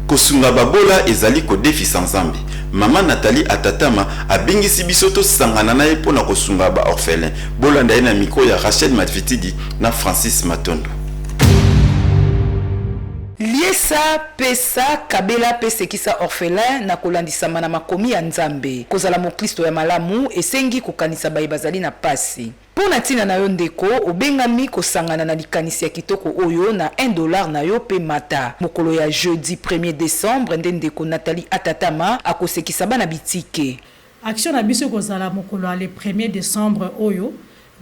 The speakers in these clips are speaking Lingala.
Kosunga babola ezali kodefisa Nzambe. Mama Nathalie Atatama abengisi biso tosangana na ye mpo na kosunga ba orphelins. Bolanda ye na micro ya Rachel Madvitidi na Francis Matondo. Liesa, pesa, kabela mpe sekisa orphelins na kolandisama na makomi ya Nzambe. Kozala moklisto ya malamu esengi kokanisa baye bazali na mpasi. Mpo na ntina na yo, ndeko, obengami kosangana na likanisi ya kitoko oyo na un dollar na yo, mpe mata. Mokolo ya jeudi premier decembre nde ndeko Nathalie Atatama akosekisa bana bitike. Action na biso ekozala mokolo ya le premier decembre oyo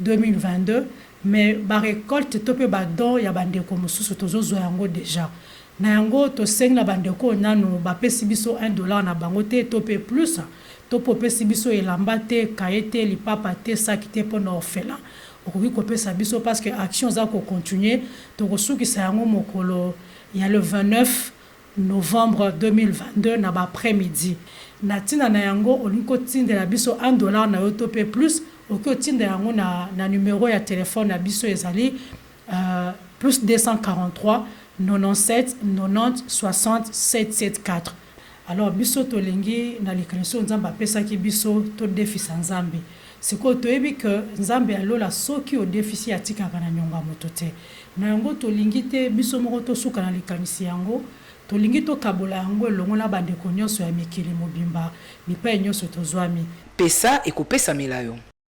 2022, mais ba recoltes to mpe ba dons ya ba ndeko mosusu tozozua yango dejà. Na yango, tosengi na bandeko oyo nanu bapesi biso un dollar na bango te, to pe plus, to pe opesi biso elamba te, cahier te, lipapa te, sac te, pona orphelin, okoki kopesa biso parce que action eza ko continuer, tokosukisa yango mokolo ya le 29 novembre 2022 na ba après midi. Na tina na yango, olingi kotindela biso un dollar na yo to pe plus, okoki otinda yango na na numero ya telephone na biso ezali. +243 97 90 60 774 alors biso tolingi na likanisi oyo nzambe apesaki biso todefisa nzambe sikoyo toyebi que nzambe ya lola soki odefisi atikaka na niongo ya moto te na yango tolingi te biso moko tosuka na likanisi yango tolingi tokabola yango elongo na bandeko nionso ya mikili mobimba bipai nionso tozwami. Pesa, ekopesamela yo.